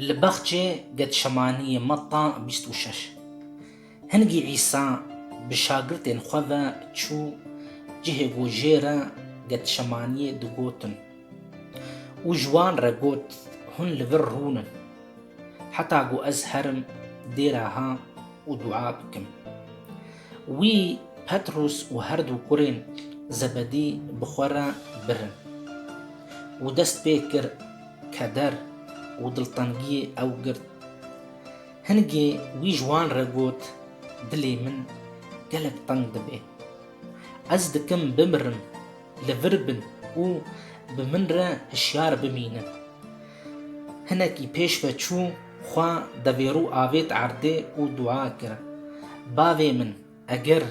Li baxçê Getşemaniyê Metta bîst û şeş Hingî Îsa bi şagirtên xwe ve çû cihê ku jê re Getşemaniyê digotin û ji wan re got, Hûn li vir rûnin heta ku ez herim dê re ha û dua bikim. Wî Petrûs û her du kurên Zebedî bi xwe re birin û dest pê kir, Keder û diltengiyê ew girt. Hingê wî ji wan re got, Dilê min gelek teng dibe. Ez dikim bimirim, li vir bin û bi min re hişyar bimînin. Hinekî pêş ve çû xwe devêrû avêt erdê û dua kir, Bavê min! Eger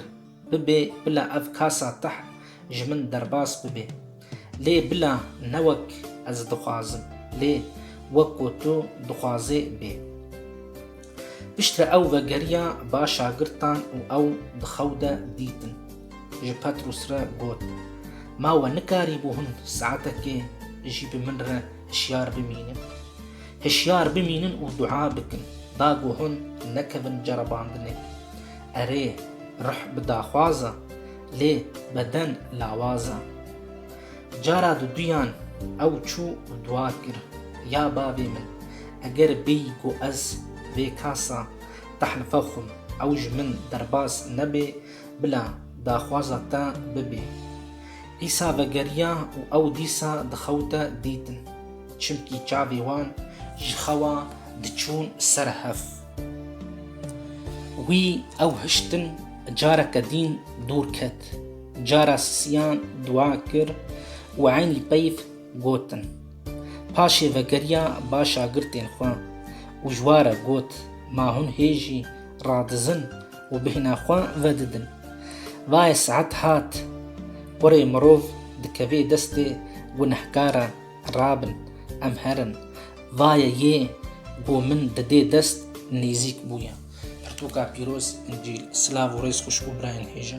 bibê bila ev kasa teh ji min derbas bibê. Lê bila ne wek ez dixwazim lê wek ku tu dixwazê bê. Piştre ew vegeriya ba şagirtan û ew di xew de dîtin. Ji Petrûs re got, Ma we nikarîbû hin saetekê jî bi min re hişyar bimînin? Hişyar bimînin û dua bikin, da ku hûn nekevin ceribandinê. Erê, ruh bi daxwaz e, lê beden lawaz e. Cara di duyan ew çû û dua kir, Ya bavê min, eger bêyî ku ez vê kasa tehlife xwim, ew ji min derbas nebê, bila daxwaza te bibê. Îsa vegeriya û ew dîsa di xew de dîtin, çimkî çavê wan ji xewa diçûn ser hev. Wî ew hiştin careke dîn dûr ket. Cara sisiyan dua kir û eynî peyv gotin. Paşê vegeriya ba şagirtên xwe û ji wa re got, Ma hûn hêjî radizin û bêhna xwe vedidin. Vaye saet hat, kurê mirov dikevê destê gunehkaran. Rabin, em herin. Vaye yê ku min didê dest nêzîk bûye. Pirtûka pîroz, Încîl, silav û rêz xwişk û birayên hêja.